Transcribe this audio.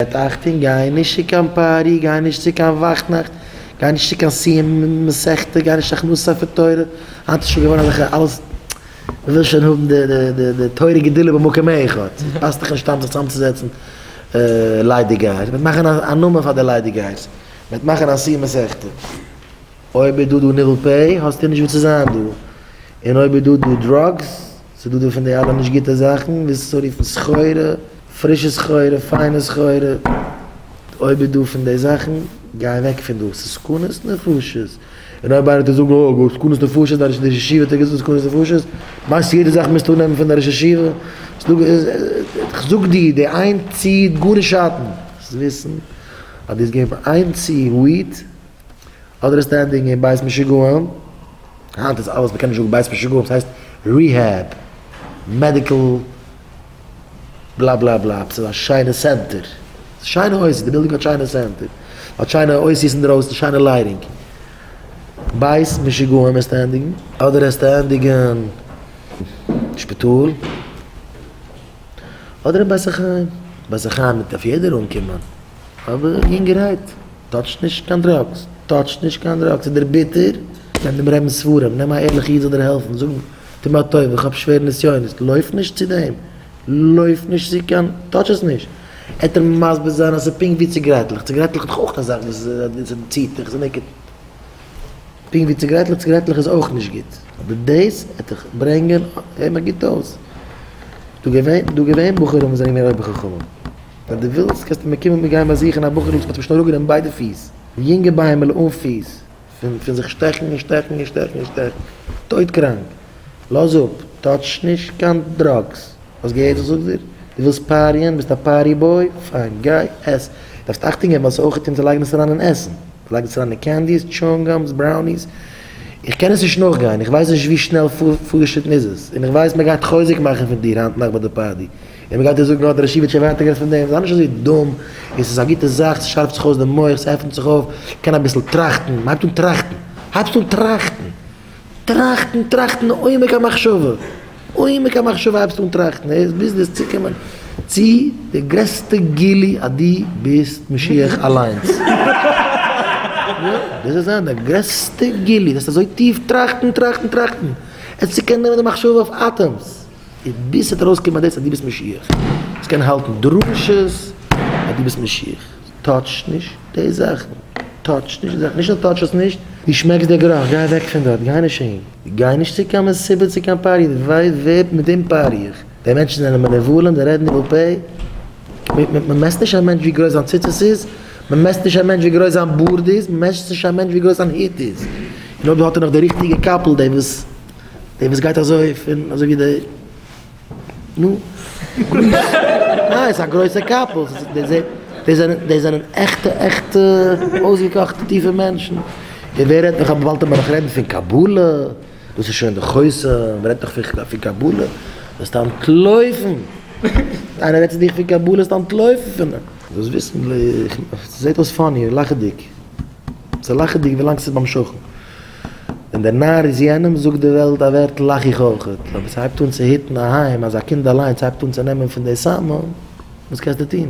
בעט אייך טון, גיי נישט צו קיין פארטי, גיי נישט צו קיין וואכנאכט, גיי נישט צו קיין סיום מסכתא, גיי נישט הכנסת ספר תורה, היינט איז שוין געווארן אזעלכע אלעס, מען וויל שוין האבן די תורה גדולה במקום אחד, ס'פאסט דאך נישט היינט זיך צוזעצן ליידיגייער, מען וועט מאכן א נאמען פאר די ליידיגייערס, מען וועט מאכן א סיום מסכתא, אויב איז דא דא נירל פ האסטו נישט וואו צו זיין דא, און אויב איז דא דא דראגס. ס'איז דא דא פון די אלע נישט גוטע זאכן, וויאזוי צו רופן סחורה, פרישע סחורה, פיינע סחורה, אויב איז דא פון די זאכן, גיי אוועק פון דא, ס'איז סכנות נפשות, און אויב איינער טאר זאגן אוי וואס סכנות נפשות, די ראש ישיבה האט געזאגט סכנות נפשות, מיינסטו יעדע זאך מוזטו אננעמען פון די ראש ישיבה? כ'זאג דיר, די איין צי האט גארנישט שאטן, דאס איז וויסן אז דו האסט געווען פאר איין צי וויט, אדער איז סטענדינג אין בית משוגעים, היינט איז אלעס מ'קען נישט זאגן בית משוגעים ס'הייסט ריהעב, מעדיקל בלא בלא בלא, עפעס אזא שיינע סענטער, שיינע אויסיס, די בילדינג האט שיינע סענטער, האט שיינע אויסיס אינדרויסן, שיינע לייטינג, בית משוגעים איז סטענדינג. אדער איז סטענדינג אין שפיטאל, אדער אין בית החיים, בית החיים דארף יעדער אנקומען, אבער יונגערהייט. טאטש נישט קיין דראגס, טאטש נישט קיין דראגס, איז דער ביטער, נעם דעם רעבינ'ס ספרים, נעם א ערליכע איד זאל דיר העלפן, זאג אים, טו מיר א טובה, איך האב שווערע נסיונות, לויף נישט צו דעם, לויף נישט צו קיין, טאטש עס נישט, עט ער מסביר זיין אז ס'איז פונקט ווי ציגרעטלעך, ציגרעטלעך האט דאך אויך א זאך וואס ס'ציט דיך, ס'מעקערט, פונקט ווי ציגרעטלעך, ציגרעטלעך איז אויך נישט גוט, אבער דאס עט דיך ברענגען, הער מיך גוט אויס, דא געווען בחורים וואס זענען געווען אויבער חכמים, ווען דו ווילסט קענסטו מיר קומען מיר גייען באזוכן א בחור'ל וואס מ'האט אים שוין אראפגענומען ביידע פיס, די יונגע ביימעלע אן פיס, פון פון זיך שטעכן און שטעכן און שטעכן און שטעכן, טויט קראנק, לאז אפ, טאטש נישט קיין דראגס, האסט געהערט וואס איך זאג דיר? דו ווילסט פאריען? ביסט א פארטי בוי? פיין, גיי עס, דארפסט אכטונג געבן אז אויך און צו לייגן עס אריין אין עסן, צו לייגן עס אריין אין קענדיס, טשואונג גאמס, בראוניס, איך קען עס נישט נאכגיין, איך ווייס נישט ווי שנעל פארגעשריטן איז עס, און איך ווייס מ'גייט חוזק מאכן פון דיר היינט נאכט ביי די פארטי. און מען גייט דיר זאגן, האט דער ישיבה שוין ווייטער גערעדט פון דעם, זיי נישט אזוי דום, און ס'איז א גוטע זאך, ס'שארפט זיך אויס די מח, ס'עפנט זיך אויף, קען אביסל טראכטן, מען הייבט אן טראכטן, הייבסט אן טראכטן, טראכטן, טראכטן עומק המחשבה, עומק המחשבה הייבסטו אן טראכטן, עס ביז דאס צוקומען צו די גרעסטע גילוי אז דו ביסט משיח אליינס, דאס וועט זיין די גרעסטע גילוי, וועסט אזוי טיף טראכטן, טראכטן, טראכטן, עס צוקען נעמען די מחשבה אויף אטעמס. און ביז ס'וועט ארויסקומען אז דאס אז דו ביסט משיח, דאס קען האלטן דרשות אז דו ביסט משיח, טאטש נישט די זאכן, טאטש נישט די זאכן, נישט נאר טאטש עס נישט, דו שמעקסט די גערוך, גיי אוועק פון דארט, גיי נישט אהין, גיי נישט צו קיין מסיבה צו קיין פאר יעדער ווייסט ווער מיט דעם פאר איך, די מענטשן זענען מנוולים, זיי רעדן ניבול פה, מען מעסט נישט א מענטש ווי גרויס זיין ציצית איז, מען מעסט נישט א מענטש ווי גרויס זיין בארד איז, מען מעסט נישט א מענטש ווי גרויס זיין הוט איז, און אויב האט ער נאך די ריכטיגע קאפל, די וואס. דער וואס גייט אזוי פון אזוי ווי די נו. ניין ס'איז א גרויסע קאפל, די זענען די זענען עכטע עכטע אויסגעקאכטע טיפע מענטשן, און ווער רעדט נאך אבער באלד מ'וועט דאך רעדן פון קבלה, דאס איז שוין די חוסר, מ'רעדט דאך פון קבלה, וועסט אנטלויפן, איינער רעדט צו דיך פון קבלה וועסטו אנטלויפן פון אים. דאס וויסן, ס'זעט אויס פאני, לאכעדיג, ס'איז לאכעדיג ווילאנג ס'איז ביים שכן. ווען דער נאַר איז יענעם, זאָגט די וועלט אַ ווערטל, לאַך איך אויך. אָבער ס'הייבט אָן צו היטן אַ היים, אַז אַ קינד אַליינס הייבט אָן צו נעמען פון דער סם, וואָס קענסטו טאָן?